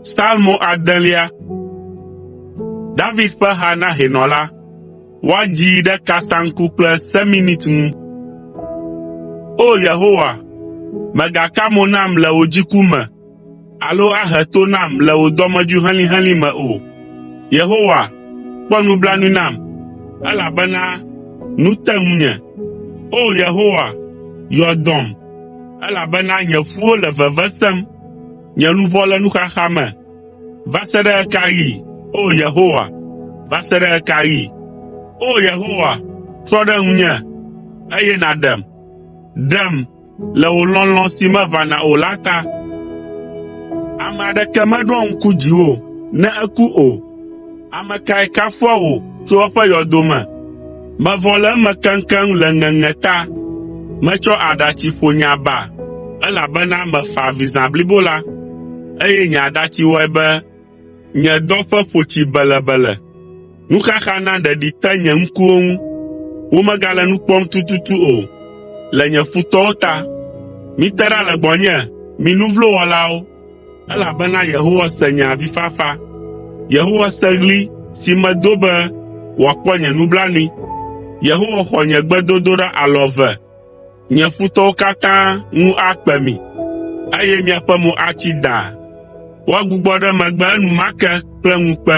Salmo adelia. David ƒe ha na hɛnɔ la. Woadzii ɖe kasaŋku kple seminit ŋu. O Yehowa, mègaka mo nam le wò dziku me, Alo ahe to nam le wò dɔmedzoe helĩhelĩ me o. Yehowa, kpɔ nublanui nam, elabena nu te ŋunye. O! Yehowa, yɔ dɔm, elabena nye ƒuwo le veve sem. Nye luʋɔ le nuxaxa me. Va se ɖe ɣe ka ɣi, O! Yehowa, va se ɖe ɣe ka ɣi? O! Yehowa, trɔ ɖe ŋunye, eye nàɖem. Ɖem, le wò lɔlɔ̃ si meʋãna o la ta. Ame aɖeke meɖoa ŋku dziwò ne eku o. Ame kae kafua wò tso eƒe yɔdo me? Mevɔ le eme keŋkeŋ le ŋeŋe ta. Metsɔ aɖatsi ƒo nye aba, elabena mefa avi zã blibo la, eye nye aɖatsi wɔe be Nye dɔƒe ƒo tsi belebele, nuxaxa na ɖeɖi te nye ŋkuwo ŋu. Womegale nu kpɔm tututu o le nye futɔwo ta. Mite ɖa le gbɔnye, mi nu vlo wɔlawo, elabena Yehowa se nye avifafa. Yehowa se ɣli si medo be wòakpɔ nye nublanui. Yehowa xɔ nye gbedodoɖa alɔ eve. Nye futɔwo katã ŋu akpe mi, eye miaƒe mo atsi daa. Woagbugbɔ ɖe megbe enumake kple ŋukpe.